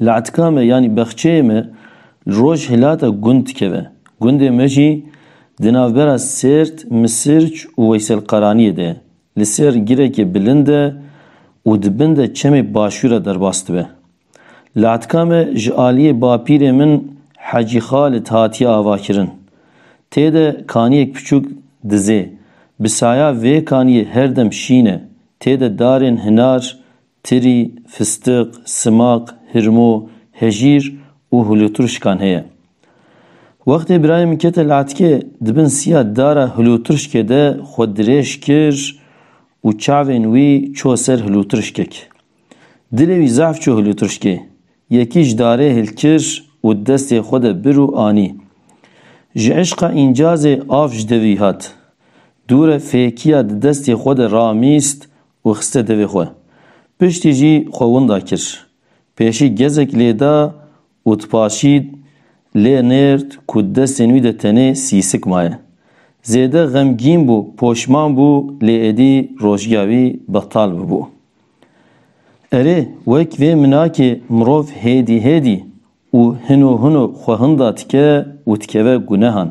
Latka me yanî bexçeyê me li roj hilata gund dikeve. Gundê me jî di navbera Sêrt, Misirc û Weyselqaraniyê de ye. Li ser girekê bilind e û di bin de çemê Başûr e derbas dibe. Latka me ji aliyê bapîrê min Hecî Xalid hatiye avakirin. Tê de kaniyek piçûk dizê. Bi saya vê kaniyê her dem şîn e. Tê de darên hinar, Tirî, fistiq, simaq, hirmo, hejîr û hulûtirşkan heye. Wextê birayê min kete li etkê, di bin siya dara hulûtirşkê de xwe dirêj kir û çavên wî ço ser hulûtirşkek. Dilê wî zehf çû hulûtirşkê, yekî ji darê hil kir û di destê xwe de bir û anî. Ji îşqa încazê av ji devî hat. Dûre fêkiya di destê xwe de ramîst û xiste devê xwe. Piştî jî xwe winda kir. Pêşî gezek lê da û dipaşîd lê nêrd ku di destên wî de tenê sîsik maye. Zêde xemgîn bû, poşman bû lê êdî rojgiya wî betal bibû. Erê, wek vê minakê mirov hêdî hêdî Û hino hino xwe hinda dike û dikeve gunehan.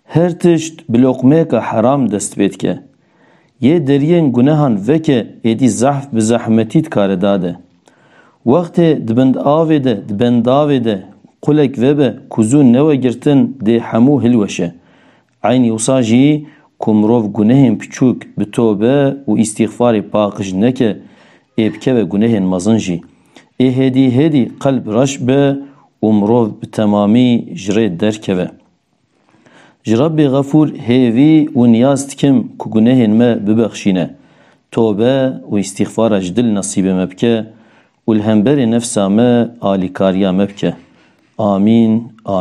Her tişt bi loqmeyeka heram dest pê dike. Yê deriyên gunehan veke êdî zehf bi zehmetî dikare dade. Wextê di bind avê de, di bendavê de qulek vebe ku zû newe girtin dê hemû hilweşe. Eynî wisa jî ku mirov gunehên piçûk bi tobe û îstîxfarê paqij neke, ê bikeve gunehên mezin jî. Ê hêdî hêdî qelb reş be û mirov bi temamî ji rê derkeve. Ji Rebbê Xefûr hêvî û niyaz dikim ku gunehên me bibexşîne, tobe û îstîxfara ji dil nesîbê me bike û li hemberê nefsa me alîkariya me bike. Amîn.